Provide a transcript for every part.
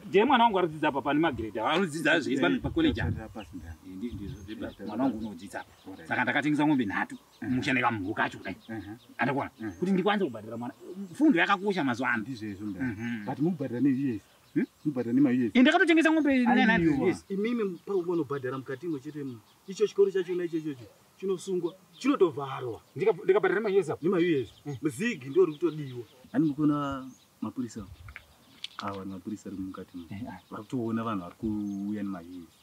ndiye mwana wangu aridzidza apa pane magrade anodzidza zviri pacollege mwana wangu unodzidza apa saka ndakatengesa mombe nhatu musha nekamhuru kacho kudai mhm. andakona mhm. kuti ndikwanise kubhadhara mwana fundo yakakosha mazuva ano ndizvezvo mda mhm. but mukubhadhara neus hmm? mubhadhara nemaus eh, ndakatotengesa ngombe imimi paunobhadhara mukati imo chete mu icho chikoro chachona ichochocho chinosungwa chinotovharwa ndikabhadhara nemaus apo nemaus hmm. muzigi ndo ri kutodiwa ani mukona mapurisa awa ni mapurisa ri mukati mo eh, ah. vari kutoona vanhu vari kuuya nemaus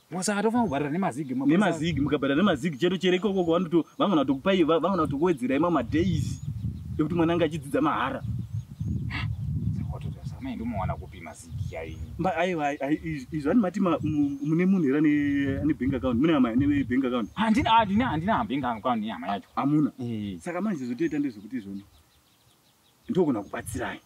Saka tofanira kubhadhara nemazigi nemazigi mukabhadhara nemazigi chero chero ikoko vanoto vangona kutokupai vangona kutokuwedzera imwe madays ekuti mwana anga achidzidza mahara mai ndomawana kupi mazigi chaiyi aiwa izvi ani mati mune munhu here ane bank account mune hama ane bank account handina handina handina bank account yehama yacho hamuna eh. saka manje zvotoita ndezvekuti izvoni ndogona kubatsirai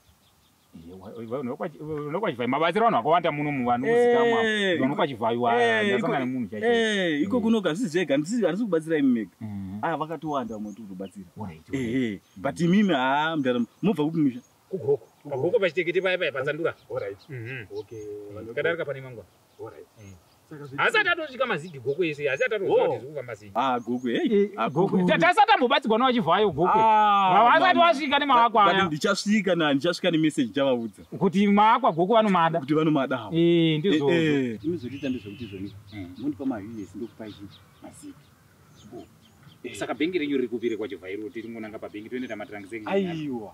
unokwachivhayo mabatsiro vanhu vakawanda muno muvanhu muzikamwa eh, unokwachivhayo eh, ndasanga nemunhu chaio eh, iko mm. kunoga zvisi zvega handisi kubatsira imi mega mm. aa ah, vakatowanda vamwe tikutobatsira mm. but imimi haa ah, mdara mobva kupi misha kugoko pachitekete paya paya patsandura mhm. kadarika pane mangwa asati atosvika mazigi gokwe yesu asi atatozva kuti zvikuka mazigi ah gokwe hey eh, ah, gokwe tasati ambobatsirwa na vachivhayo gokwe ah, asati wasvika nemaakwa aya ndichasvika na ndichasvika nemessage chavaudza kuti maakwa gokwe vanomada kuti vanomada hawo eh ndizvo eh, eh. zvinozoita ndezvekuti zvoni hmm. mundipa mahiwi esi ndokupa ichi mazigi saka bhengi renyu riri kupire kwachivhairo tiringonanga pabhengi toenda tamatirangise aiwa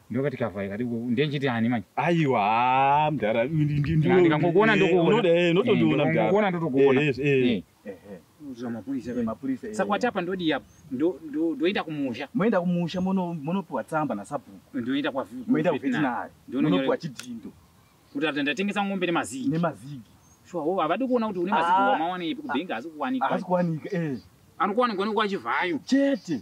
ndokati kavhai kati ndechiti ani manje aiwa haa mdara ndikangokuona ndokuonaotondiona mdarakuona ndotokuona saka wati apa ndodii apa ndoenda kumusha moenda kumusha monopiwa tsamba nasabhuku ndoenda kwamoenda kuvetinari monopiwa chidhindo kuti ati ndatengesa ngombe nemazigi nemazigi shuwa wo havadi kuona kuti une mazigi wamawanepi kubhengi haasi kuwanika haasi kuwanika eh. anokuwanikwa nekuwachivayo chete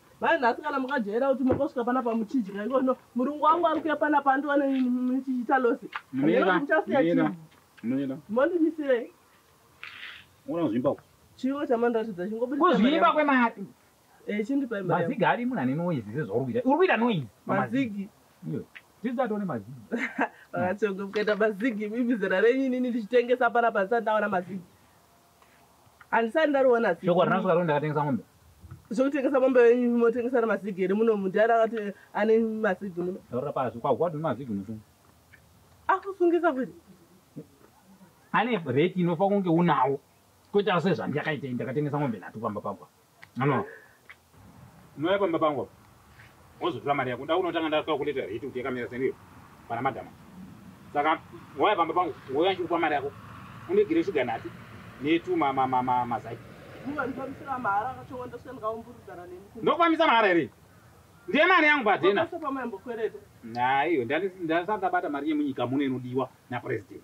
Mai nhasi kana mukajaira kuti makosvika pana pamuchidya ikono murungu wangu ari kuya pana pandiwane muchiita losi muchasiya chii mondimisirei ona zvimba chiwo chamandiratidza chingobudikuzvimba kwemati eh, chindipai mazigi ari munhu ane noise sezvauri kuita uri kuita noise mazigi tizatone mazigi vakatonge mukaita mazigi mimi zera renyu inini ndichitengesa pana pandisati ndaona mazigi handisati ndariona asi Shoko harina kusvika roni ndakatengesa mombe. zvokutengesa mombe venyu motengesa nemazigi here muno munhu ndiani akati ane mazigi muno Taurira pasi kwa what mazigi musu. akusungisa kuti Ane rate inofa kunge unawo. Kwete ase zvandiyakaita ini ndakatengesa mombe nhatu pamba pagwa. Mama, unouya pamba pangu apa wozotora mari yako. Ndakuda unotanga ndatoa kuleta hiti kuti yakamira seniyo pana madhama. Saka wauya pamba pangu wouya ndichikupa mari yako undigire shuga nhatu netu mazai. Ndofambisa mahara here? Ndiye mari yangu padhena. Naiyo ndandisati ndabata mari yemunyika muno inodiwa napurezidendi.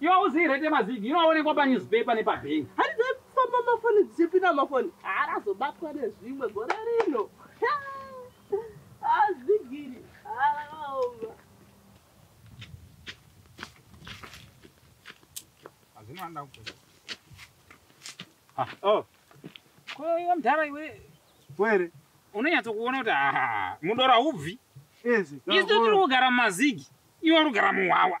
Iwe hauzivi rate mazigi inoonekwa panewspaper nepabank. Hadi dzekufamba mafoni dzichipinda mafoni haarazobatwa nezvimwe gore rino. Azigiri haraoma. Hazvino handa kukuza. Ah, oh. Ko iwe mdhara iwe. Where? Unonyatso kuona kuti ah, mudora ubvi. Yes. Isu tiri kugara mumazigi. Iwe uri kugara muhwawa.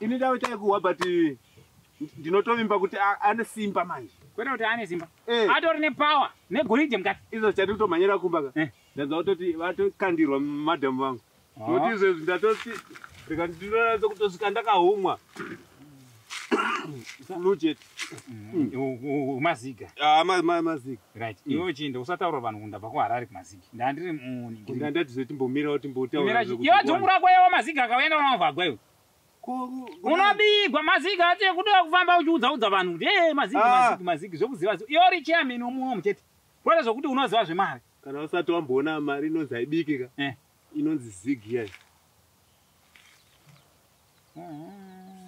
ini ndave taikuhwa but eh, ndinotovimba kuti a- ane simba manje kwete kuti ane simba Eh. atori nepower negoridhe mukati izvo chati kutomhanyira kumba ka Eh. ndanza kutoti vatokandirwa madam vangu Ah. nokuti izvezvi ndatoti rikandinoratsa kutosvika ndakahumwa lujet maziga ah, maziga right mm. iwe uchienda usataura vanhu kundabva kuharare kumaziga ndandiri munindandatizotimbomirawo timbotauraiwe dzungu rako yewa maziga akaenda vanamavagwa iwe unobigwa maziga ati kuda kufamba uchiudza udza vanhu kuti e maziga ah. maziga maziga zvekuziva ziva iyo ri chairman womuno muchete kwete zvokuti unoziva zvemari kana usati wamboona mari inonzi aibikika eh. inonzi zigi yayo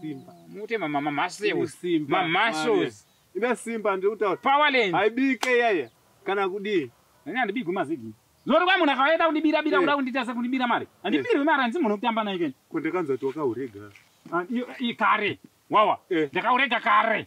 Simba. Mute mama mama Ine muscles. simba. Mama Mari. muscles. Ine simba ndiri kutaura. Power lens. Haibike yaya. Kana kudii? Nani andibigwi mazigi. Zori kwa munhu akaenda kundibira bira Eh. kuda kundiita sekundibira mari. Andibirwe mari hanzi munhu kutamba naye kani. Ko ndakanzwa kuti wakaurega. Ah, iyo- iyi kare. Wawa. Eh. Ndakaurega kare.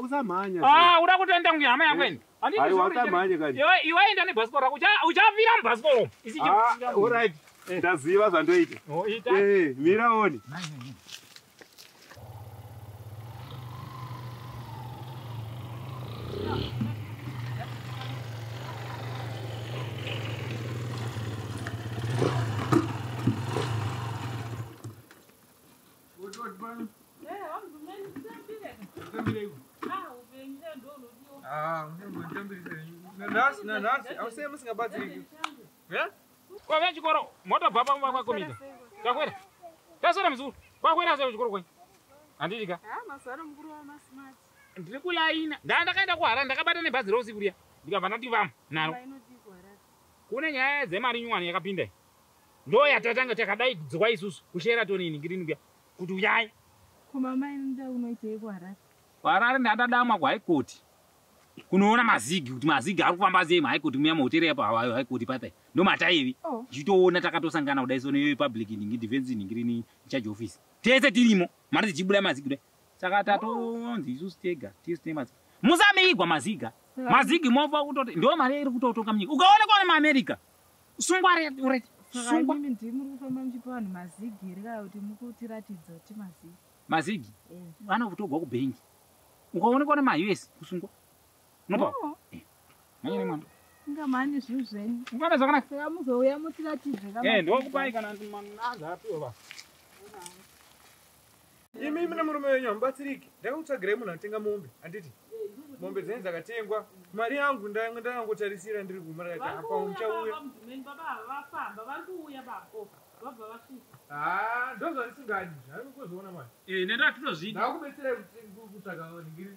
usamhanya ah, uda kutoenda kunge hama yangu ini iwe iwe enda nebhasikoro rako uchavira mubhasikoro isiirit ah, ndaziva zvandoita oh, eh, mira oni kwave chikoro motobva pamba kwakomita takwera tasara muzukuru kwakwera asara chikoro kwenyu handiti ka ndiri kulaina ndaa ndakaenda kuhara ndakabata nebhazi rousiku riya ndikabva ndati vamo naro kune nyaya dzemari nyuwani yakapinda Ndo yatatanga takadai kudzwa isusu kuSheraton in Green kuya kuti uyai. Ko mama imi nda unoitei kuHarare? KuHarare ndandadamwa kuHigh Court. Kunoona mazigi kuti mazigi ari kufamba sei muHigh Court muya mahotera yapo hawayo High Court papa. Ndo mataivi. Oh. Tichitoona takatosangana kudai sono yoyo public in defense in Green charge office. Tese tirimo mari dzichibuda mazigi kudai. Saka tatonzi isusu tega tese tine mazigi. Musamigwa maziga. Mazigi mofa kutoti ndo mari iri kutotonga munyika. Ukaona kwa America sungwa red sungwa mimi ndi muri kufamba muchipa vanhu mazigi here kana kuti muri kutiratidza kuti mazigi mazigi eh. vana kutogwa kubhengi ukaonekwa ne maus kusungwa unopa oh. eh. manyene mwana ngamani zvinhu zvenyu ungana zvakanaka saka muzouya mutiratidze kama eh ndokupai kana mwana azapiwa basa imi imi nemurume wenyu hamubatsiriki ndakakutsvagirei munhu anotenga mombe handiti mombe dzenyu dzakatengwa mari yangu ndangotarisira ndiri kumurati apa muchauya ndozvandisingadi zvandikuzoona manje eh, nendakutozviita ndakubetserai kutsvaga ningiri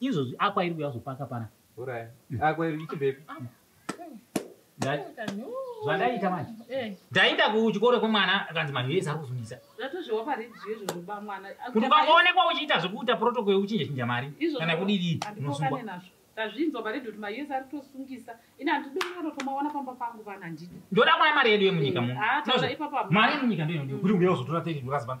izvozvi akwa iri kuya zvopaka pana urai akwa iri ichibvepi zvandaita manje eh. ndaita kuchikoro kwemwana akanzi manhu yese ari kuzungisa kuti ukangoonekwa uchiita zvekuita protocol yekuchinja chinja mari kana kudidii unosungwa tazvinzwa paredhi kuti mayezi ari kutosungisa ini handidonanotomawana pamba pangu vana ndidi ndoda kuona mari yedu yemunyika eh, muno mari yemunyika ndoinodiwa kuti uya uzotora 30 dollars pano